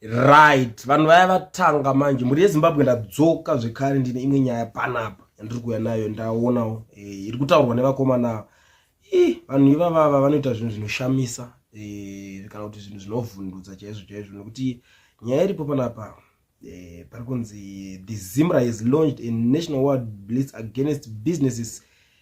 right vanhu vaya vatanga manje mhuri yezimbabwe ndadzoka zvekare ndine imwe nyaya panapa yandiri kuuya nayo ndaonawo e, iri kutaurwa nevakomana i vanhu ivavava vanoita zvinhu zvinoshamisa e, kana kuti zvinhu zvinovhundutsa chaizvo chaizvo nekuti nyaya iripo panapa e, pari kunzi the zimra has launched a national world blitz against businesses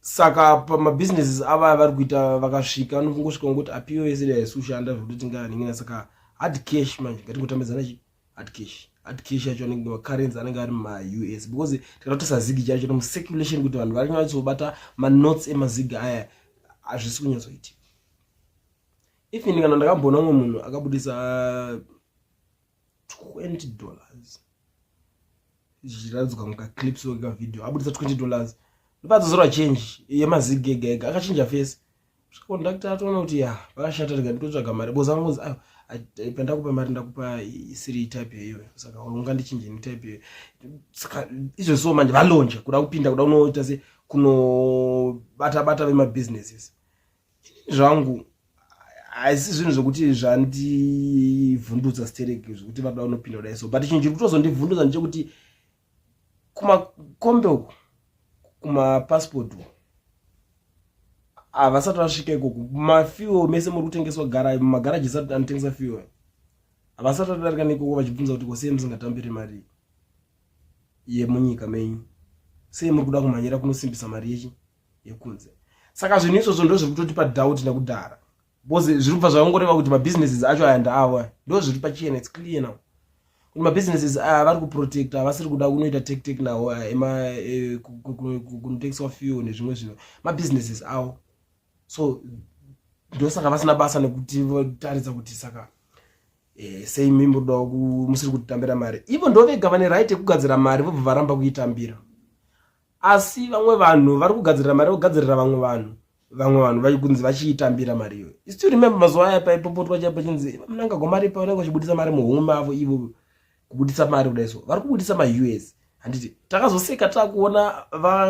saka pamabusinesses avaya vari kuita vakasvika vanongosvika ngokuti apiwa yese da haisi kushanda zvekuti tingaaningina saka hard cash manje ngatingotambidzana chi hard cash hard cash yacho anenge macurrency anenge ari muma-u s because tikada kutisa zigi chacho nomcirculation kuti vanhu vari nyatsobata manotes emazigi aya hazvisi kunyatsoitika even kana ndakamboona umwe munhu akabudisa 20 dollars zvichiratidzwa mukaclips weka video abudisa 20 dollars ndopadzozorwa change yemazigi ega ega akachinja face conducta atoona kuti ya pakashata rega nditotsvaga mari boza vangonzi ayo pandakupa mari ndakupa isiri type yeyo saka unga ndichinje netype yeyo saka izvo so manje valonja kuda kupinda kuda unoita se kunobata bata vemabusinesses ini zvangu haisi zvinhu zvokuti zvandivhundutsa stereki zvokuti vanoda unopinda kudai so but chinhu chiri kutozondivhundutsa ndechekuti kumakombe uku kumapassport uku havasati ah, vasvika ikoko mafuel mese muri kutengeswa gara mumagaraji isati anotengesa fuel havasati vatodarika neikoko vachibvunza kuti kosei musingatambiri mari yemunyika menyu sei muri kuda kumhanyira kunosimbisa mari yechi yekunze saka zvinhu izvozvo ndozviri kutotipa doubt nekudhara bcause zviri kubva zvavangoreva kuti mabusinesses acho aya ndaavo aya ndo zviri pachena its clear now kuti mabusinesses aya vari kuprotecta havasiri kuda kunoita tektek nawo aya ema e, kunotengeswa fuel nezvimwe zvinhu mabusinesses avo so ndosaka vasina basa nekuti votaridza kuti saka e, sei mi muri kudawo musiri kutitambira mari ivo ndovega vane right yekugadzira mari vobva varamba kuitambira asi vamwe vanhu vari kugadzirira mari yokugadzirira vamwe vanhu vamwe vanhu vaikunzi vachiitambira mari iyoyo istill remember mazuva aya paipopotwa chaipo chinzi munanga gomari pa vanenge vachibudisa mari muhomwe mavo ivo kubudisa mari kudai so vari kubudisa maus handiti takazoseka takuona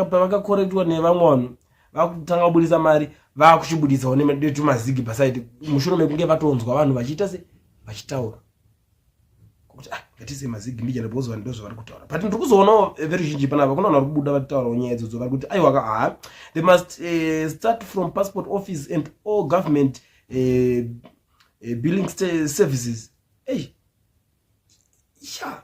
pavakakorektiwa nevamwe vanhu vakutanga kubudisa mari vakuchibuditsawo netumazigi pasaidi mushure mekunge vatonzwa vanhu vachiita se vachitaura kuti ah ngatise mazigi mbija ndibozwa ndo zvavari kutaura but ndiri kuzoonawo eh, veruzhinji panapa kunoona vari kubuda vataurawo nyaya idzodzo vari kuti aiwa ka haa they must uh, start from passport office and all government uh, uh, billing services ei sha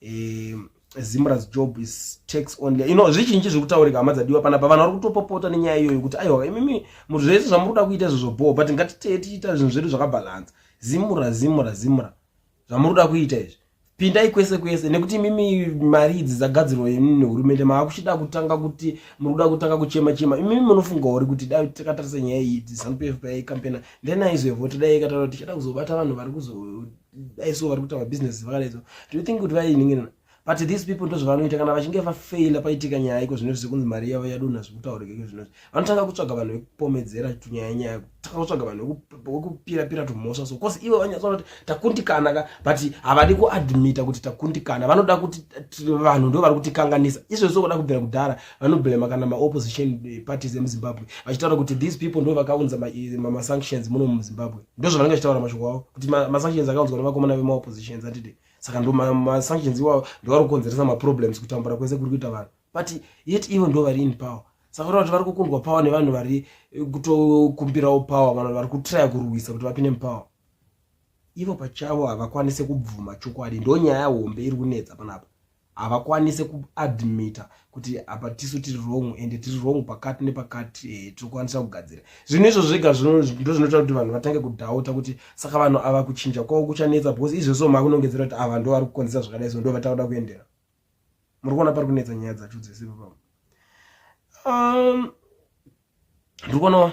eh, zimras job is tax only you know zvizhinji zviri kutaurika hama dzadiwa panapa vanhu vari kutopopota nenyaya iyoyo kuti aiwa imimi muthu zvese zvamuri kuda kuita izvo zvobhowa but ngatitee tichiita zvinhu zvedu zvakabhalansa zimura zimura zimura zvamuri kuda kuita izvi pindai kwese kwese nekuti imimi mari idzi dzagadzirwa imi nehurumende mava kuchida kutanga kuti muri kuda kutanga kuchema chema imimi munofunga uri kuti dai takatarisa nyaya iyi zanupf payaicampena then aizovoti dai ikataura tichada kuzobata vanhu vari kuzo daiso vari kuita mabusiness vakadaiso do you think kuti vainingirana but these people ndozvavanoita kana vachinge vafeila paitika nyaya iko zvino zvizi kunzi mari yavo yadonha zvekutaurika iko zvino vanotanga kutsvaga vanhu vekupomedzera tunyaya nyaya kutanga kutsvaga vanhu vekupirapira tumhosva so cause ivo vanyatsoona kuti takundikana ka but havadi kuadmita kuti takundikana vanoda kuti vanhu ndo vari kutikanganisa izvozvo kuda kubvira kudhara vanoblema kana maopposition eh, parties emuzimbabwe vachitaura kuti these people ndo vakaunza eh, mamasanctions muno muzimbabwe ndozvo vanenge vachitaura mashoko avo kuti masanctions akaunzwa nevakomana vemaoppositions atide saka ndo masanctions iwawo ndovari kukonzeresa maproblems kutambura kwese kuri kuita vanhu but yet ivo ndo vari in power saka kuti vari kukundwa power nevanhu vari eh, kutokumbirawo power vanhu vari kutraya kurwisa kuti vapinde mupower ivo pachavo havakwanise kubvuma chokwadi ndo nyaya hombe iri kunetsa panapa havakwanise kuadmita kuti apa tisu tiri wrong ende tiri wrong pakati nepakati e, eh, tirikwanisa kugadzira zvinhu izvo zvega ndozvinoita kuti vanhu vatange kudhauta kuti saka vanhu ava kuchinja kwavo kuchanetsa because izvozvo makunongedzera kuti ava ndo vari kukonzesa zvakadai so ndo vatakuda kuendera muri kuona pari kunetsa nyaya dzacho dzese papa um, ndiri kuonawa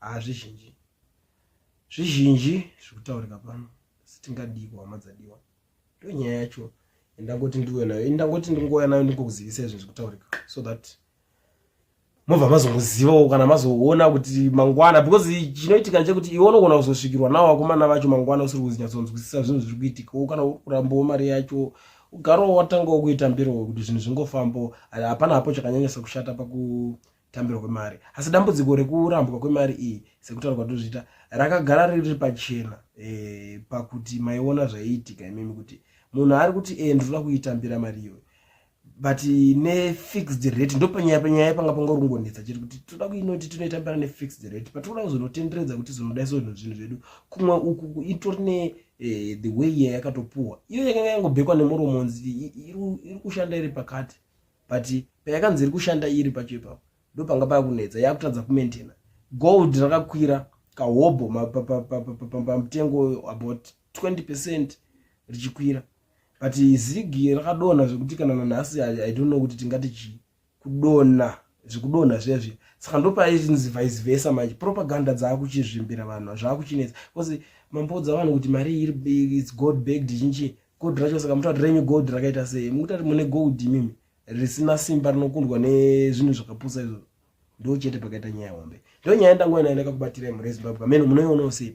hazvizhinji zvizhinji zviri kutaurika pano sitingadiiko hama dzadiwa ndo nyaya yacho indangoti ndiuya nayo indangoti ndingouya nayo ndingokuzivisa izvi zviri kutaurika so that mobva mazongozivawo kana mazoona kuti mangwana because chinoitika chekuti iwe unogona kuzosvikirwa nawo vakomana vacho mangwana usiri kuzinyatsonzwisisa zvinhu zviri kuitika wo kana urambowo mari yacho ugarowo watangawo kuita mbiro kuti zvinhu zvingofambo hapana hapo chakanyanyisa kushata paku tambirwa kwemari asi dambudziko rekurambwa kwemari iyi sekutaura kwatozviita rakagara riri pachena e, pakuti maiona zvaiitika imimi kuti munhu ari kuti e, ndinoda kuitambira mari iyoyo but nefixed rate ndopanyaya panyaya panga pangorongonetsa chiri kuti toda kuinoti tinoitambira nefixed rate but toda kuzonotenderedza kuti zvinodai so zvinhu zvinhu zvedu kumwe uku itori ne eh, the way yayakatopuwa iyo yakanga yangobhekwa nemuromonzi iri kushanda iri pakati but payakanzi iri kushanda iri pacho ipapo ndo panga pava kunetsa yakutadza kumaintaina gold rakakwira kahobho pamutengo about 20 percent richikwira but zigi rakadonha zvekuti kana nanhasi i don't know kuti tingati chii kudonha zvekudonha zvezvi saka ndopaiinzi vice versa manje propaganda dzaakuchizvimbira vanhu zvaakuchinetsa bcause mamboudza vanhu kuti mari iri its god bagged chinchii gold racho saka mutati renyu gold rakaita sei mukutati mune gold imimi risina simba rinokundwa nezvinhu zvakapusa izvozvo ndo chete pakaita nyaya hombe ndo nyaya ndangoinaendaka kubatira imhuri yezimbabwe amene munoionawo sei